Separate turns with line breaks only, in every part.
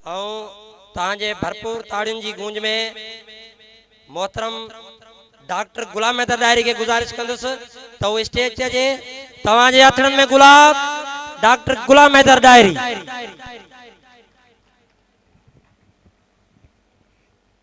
۽ توهان جي ڀرپور تاڙين جي گونج ۾ محترم ڊاڪٽر غلام حيدر ڏاهري کي گذارش ڪندس ته هو اسٽيج تي اچي توهان جي هٿڙن ۾ گلاب ڊاڪٽر غلام حيدر ڏاهري.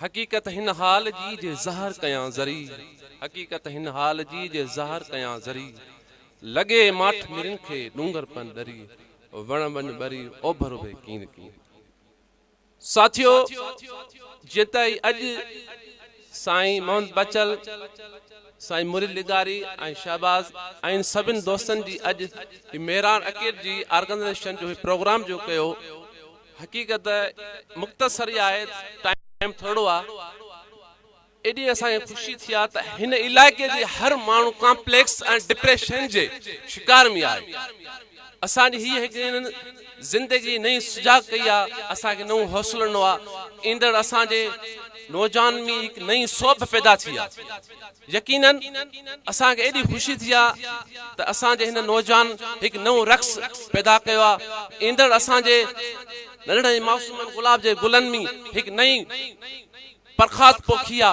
حقيقت هن حال جي جي ظاهر ڪيان ذري حقيقت هن حال جي جي ظاهر ڪيان ذري لڳي ماٺ مرين کي ڏونگر پن ڏري وڻ وڃ ٻري اوڀر اڀي ڪين ڪين ساٿيو جيئن ته اهي اڄ سائين محمد بچل سائين مريد لغاري ۽ شهباز ۽ سڀن دوستن جي اڄ هي ميران اڪيٽ جي آرگنائيزيشن جو هي پروگرام جو ڪيو حقيقت مختصر ئي آهي ٽائيم ٿورڙو آ ايڏي اسان کي خوشي ٿي آ ته هن علائقي جي هر ماڻهو ڪامپليڪس ۽ ڊپريشن جي شڪار ۾ آهي اسان جي هي هڪڙين زندگي نئين سجاڳ ڪئي آ اسان کي نئون حوصلو ڏنو آ ايندڙ اسان جي نوجوانن ۾ هڪ نئين سوڀ پيدا ٿي آ. يقيناً اسان کي ايڏي خوشي ٿي آ ته اسان جي هن نوجوان هڪ نئون رقص پيدا ڪيو آ ايندڙ اسان جي ننڍڙن ۽ معصومن گلاب جي گلن ۾ هڪ نئين پرخاڌ پوکي آ.